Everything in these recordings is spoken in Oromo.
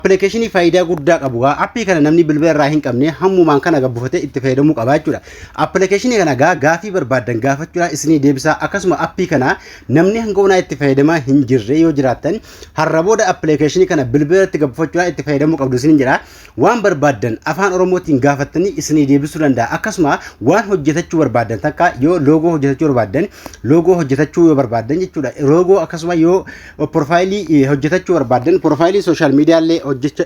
Appilikeeshinii faayidaa guddaa qabu gaa appii kana namni bilbila irraa hin qabne hammumaan kana gabbufatee itti fayyadamuu qaba jechuudha. Appilikeeshinii kana gaa gaafii barbaaddan gaafachuudhaan isinii deebisaa akkasuma appii kana namni hanga onaa itti fayyadamaa hin jirre yoo jiraattan har'a booda appilikeeshinii kana bilbila irratti gabbufachuudhaan itti fayyadamuu qabdu isin jira. Waan barbaaddan afaan Oromootiin gaafattanii isinii deebisuu danda'a. Akkasuma waan hojjetachuu barbaaddan takka yoo loogoo hojjetachuu barbaaddan loogoo hojjetachuu yoo barbaaddan jechuudha. Loogoo akkasuma yoo Profaayilii hojjetachuu barbaaddan profaayilii sooshaal miidiyaallee hojjecha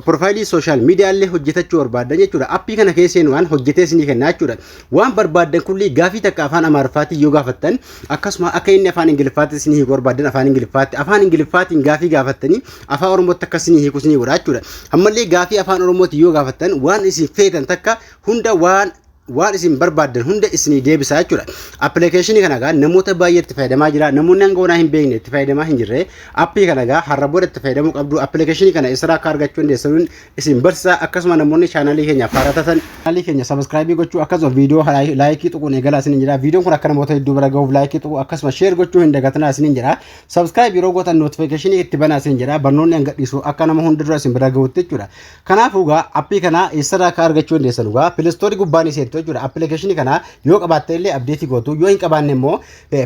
profaayilii sooshaal miidiyaallee hojjetachuu barbaaddan jechuudha. Appii kana keesseen waan hojjetee isinii kennaa jechuudha. Waan barbaaddan kullii gaafii takka afaan Amaariffaatiin yoo gaafattan akkasuma akka inni afaan Ingiliffaatti isinii hiiku barbaaddan afaan Ingiliffaatti afaan Ingiliffaatiin gaafii gaafattanii afaan Oromootti akka isinii hiiku isinii godha jechuudha. Ammallee gaafii afaan Oromootiin yoo gaafattan waan isin feetan takka hunda waan waan isin barbaaddan hunda isinii deebisaa jechuudha. Appilikeeshinii kana egaa namoota baay'ee itti fayyadamaa jira. Namoonni hanga onaa hin beekne itti fayyadamaa hin jirre. Appii kana egaa har'a booda itti fayyadamuu qabdu. Appilikeeshinii kana eessarraa akka argachuu dandeessan isin barsiisa. Akkasuma namoonni chaanaalii keenya faaraa taatan chaanaalii keenya sabiskiraayibii gochuu akkasuma viidiyoo laayikii tuquun eegalaa isin jira. Viidiyoon kun akka namoota hedduu bira gahuuf laayikii tuquu akkasuma sheer gochuu hin dagatinaa isin jira. Sabiskiraayib yeroo gootan nootifikeeshinii itti banaa isin jira. Barnoonni hanga dhiisu akka nama hunda dura isin bira gahuutti jechuudha. Kanaafuu egaa appii kana eessarraa akka argachuu dandeessan egaa pileestoorii gubbaa ni seentu jechuudha. Appilikeeshinii kana yoo qabaatte illee abdeetii gootu yoo hin qabaanne immoo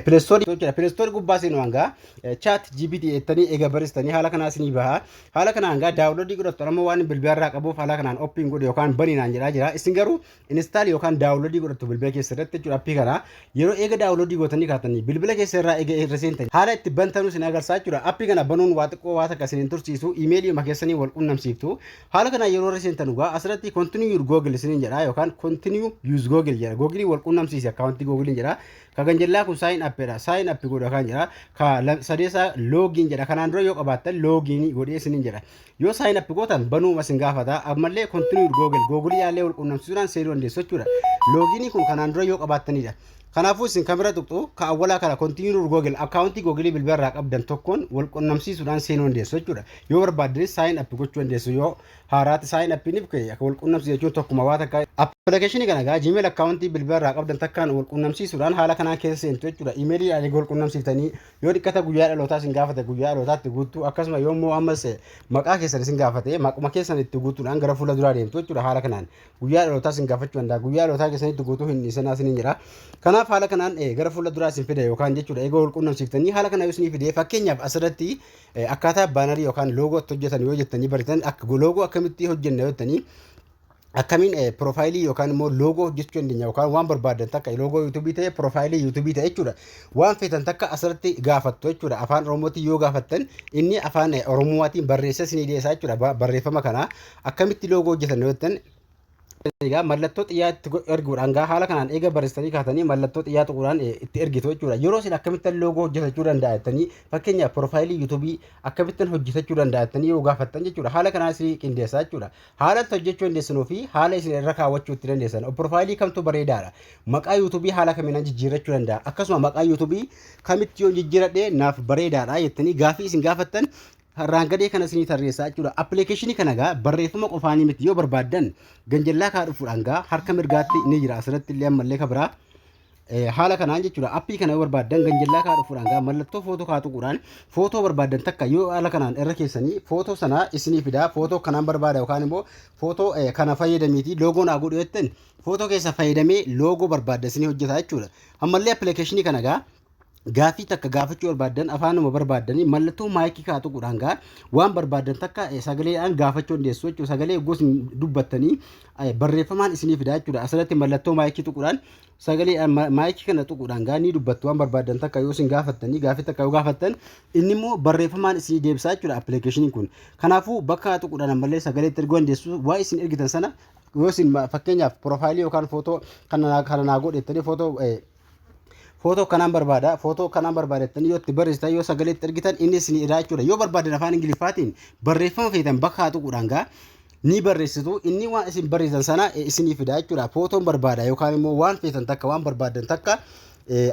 pileestoorii jechuudha. Pileestoorii gubbaa seenu hanga chaat GPT jettanii eega baristanii haala kanaa isinii baha. Haala kanaan egaa daawunloodii godhattu amma waan bilbilarraa qabuuf haala kanaan oppiin godhe yookaan baniinaan jedhaa jira. Isin garuu install yookaan download godhattu bilbila keessa irratti jechuudha appii kana yeroo eega download gootanii kaatanii bilbila keessa irraa eega irra seentan haala itti bantanuu sin agarsiisa jechuudha appii kana banuun waa xiqqoo waa takka sin tursiisu imeelii ma keessanii wal qunnamsiiftu haala kana yeroo irra seentan dhugaa asirratti continue your google sin jedha yookaan continue use google jedha google wal qunnamsiisi akkaawuntii google jedha ka ganjallaa kun sign up jedha sign up godha kan jedha ka sadeesaa login jedha kanaan dura yoo qabaattan login godhee sin jedha Yoo sign up gootan banuuma isin gaafata. Ammallee continue with Google. Google yaallee wal quunnamsiisuudhaan seenuu dandeessu jechuudha. Loogiinii kun kanaan dura yoo qabaattanidha. Kanaafuu isin kamira tuqxu ka awwalaa kana continue with Google akkaawuntii Google bilbila irraa qabdan tokkoon wal quunnamsiisuudhaan seenuu dandeessu jechuudha. Yoo barbaaddanis sign up gochuu dandeessu yoo haaraatti sign up niif ka'e akka wal quunnamsiisu jechuun tokkuma waa takka appilikeeshinii kana egaa Gmail akkaawuntii bilbila irraa qabdan takkaan wal quunnamsiisuudhaan haala kanaan keessa seentu jechuudha. Imeelii ani wal quunnamsiiftanii Yoo dhikkata guyyaa dhalootaa isin gaafate guyyaa dhalootaa itti guuttu akkasuma yoo immoo ammas maqaa keessan isin gaafate maquma keessan itti guutuudhaan gara fuula duraa deemtu jechuudha haala kanaan guyyaa dhalootaa isin gaafachuu danda'a guyyaa dhalootaa keessan itti guutuu hin dhiisinaa isin jira kanaaf haala kanaan gara fuula duraa isin fida yookaan jechuudha eegoo wal quunnamsiiftanii haala kana yoo isin fide fakkeenyaaf asirratti akkaataa baanarii yookaan loogoo itti hojjetan yoo jettanii baritan loogoo akkamitti hojjenna yoo jettanii akkamiin eh, piroofaayilii yookaan immoo loogoo hojjechuu dandeenya yookaan waan barbaadan takka loogoo yuutuubii ta'e piroofaayilii yuutuubii ta'e jechuudha waan feetan takka asirratti gaafattu jechuudha afaan oromootiin yoo gaafattan inni afaan eh, oromootiin barreessee isinii dhiyeessaa jechuudha Ba- barreeffama kana akkamitti loogoo hojjetan yoo jettan egaa mallattoo xiyyaa itti go- erguudhaan gaa haala kanaan eega barreessanii kaatanii mallattoo xiyyaa tuquudhaan eh, itti ergitu jechuudha yeroo isin akkamittan loogoo hojjetachuu danda'a jettanii fakkeenyaaf piroofaayilii yuutuubii akkamittan hojjetachuu danda'a jettanii yoo gaafattan jechuudha haala kanaan isinii qindeessaa jechuudha Haala itti hojjechuu dandeessanuu fi haala isin irra kaawwachuu itti dandeessan. Piroofaayilii kamtu bareedaadha? Maqaa yuutuubii haala kamiin jijjiirrachuu danda'a? Akkasuma maqaa yuutuubii kamitti yoon jijjiiradhe naaf bareedaadha jettanii gaafii isin gaafattan irraan gadee kana isinii tarreessaa jechuudha. Appilikeeshinii kana gaa barreeffama qofaanii miti yoo barbaaddan ganjallaa kaa dhufuudhaan gaa harka mirgaatti ni jira asirratti illee ammallee ka biraa. haala kanaan jechuudha appii kana yoo barbaaddan ganjallaa kaa dhufuudhaan gaa mallattoo footoo kaa tuquudhaan footoo barbaaddan takka yoo haala kanaan irra keessanii footoo sana isinii fidaa footoo kanaan barbaada yookaan immoo footoo kana fayyadamiitii loogoo naa godhu jettan footoo keessa fayyadamee loogoo barbaadda isinii hojjetaa jechuudha ammallee appilikeeshinii kana gaa Gaaffii takka gaafachuu barbaaddan afaanuma barbaaddanii mallattoo maayikii kaa tuquudhaan gaa waan barbaaddan takka eh, sagaleedhaan gaafachuu dandeessu jechuudha. Sagalee gosa dubbattanii eh, barreeffamaan isinii fidaa jechuudha. Asirratti mallattoo maayikii tuquudhaan sagalee eh, ma- maayikii kana tuquudhaan gaa ni dubbattu waan barbaaddan takka yoo isin gaafattanii gaaffii takka yoo gaafattan inni immoo barreeffamaan isinii deebisaa jechuudha appilikeeshiniin kun. Kanaafuu bakka tuquudhaan ammallee sagalee itti erguu dandeessu waa isin ergitan sana yoo isin ma- fakkeenyaaf piroofaayilii yookaan footoo kana naa- kana naa godhettanii footoo eh, footoo kanaan barbaada footoo kanaan barbaadattan yoo itti barreessitan yoo sagalee itti ergitan inni isin irraa jechuudha yoo barbaadan afaan ingiliffaatiin barreeffama feetan bakka haa tuquudhaan gaa ni barreessitu inni waan isin barreessan sana isinii fida jechuudha footoon barbaada yookaan immoo waan feetan takka waan barbaadan takka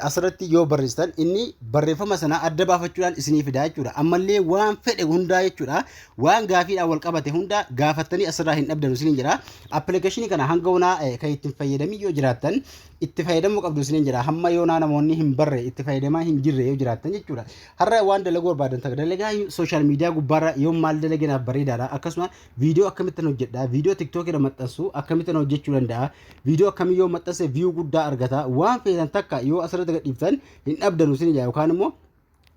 asirratti yoo barreessitan inni barreeffama sana adda baafachuudhaan isinii fida jechuudha ammallee waan fedhe hundaa jechuudha waan gaafiidhaan wal qabate hundaa gaafattanii asirraa hin dhabdan isiniin jedha appilikeeshinii kana hanga hunaa kan ittiin fayyadamii yoo jiraattan itti fayyadamuu qabdu isiniin jedha hamma yoonaa namoonni hin barre itti fayyadamaa hin jirre yoo jiraattan jechuudha har'a waan dalaguu barbaadan takka dalagaa sooshaal miidiyaa gubbaarra yoo maal dalaginaaf bareedaadha akkasuma viidiyoo akkamittan hojjedha viidiyoo tiktookirra maxxansu akkamittan hojjechuu danda'a viidiyoo akkamii yoo maxxanse viyuu guddaa argata waan feetan takka yoo asirratti gadhiiftan hin dhabdanu isiniin jedha yookaan immoo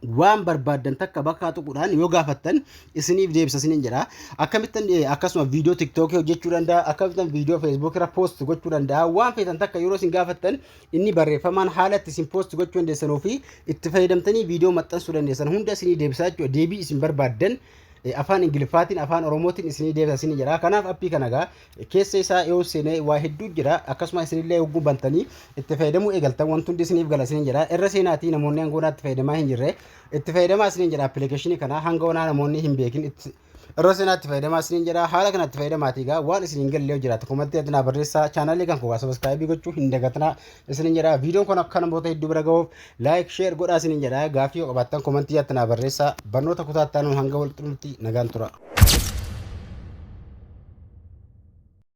waan barbaaddan takka bakkaa tuquudhaan yoo gaafattan isiniif deebisa isiniin jedha. Akkamittan eh, akkasuma viidiyoo tiktookii hojjechuu danda'a, akkamittan viidiyoo feesbuukii irra poost gochuu danda'a. Waan feetan takka yeroo isin gaafattan inni barreeffamaan haala itti isin poost gochuu dandeessanuu fi itti fayyadamtanii viidiyoo maxxansuu dandeessan hunda isinii deebisaa jechuudha. Deebii isin barbaaddan eh, afaan Ingiliffaatiin, afaan Oromootiin isinii deebisa isiniin jedha. Kanaaf appii kana gaa Keessa isaa yoo seenee waa hedduu jira akkasuma isinillee hogguu bantanii itti fayyadamuu eegaltan wanti hundi isiniif gala isiniin jedha irra seenaatii namoonni hanga onaa itti fayyadamaa hin jirre itti fayyadamaa isiniin jedha appilikeeshinii kana hanga onaa namoonni hin beekin itti irra seenaatti fayyadamaa isiniin jedha haala kanatti fayyadamaatii egaa waan isin hin galle yoo jiraate komattii adinaa barreessaa chaanaalii kan koogaa sabaskaayibii gochuu hin dagatinaa isiniin jedha viidiyoon kun akka namoota hedduu bira gahuuf Like share godhaa isiniin jedha gaaffii yoo qabaattan komantii jaatti naa barreessaa barnoota kutaa itti aanuun hanga wal xumurutti nagaan tura.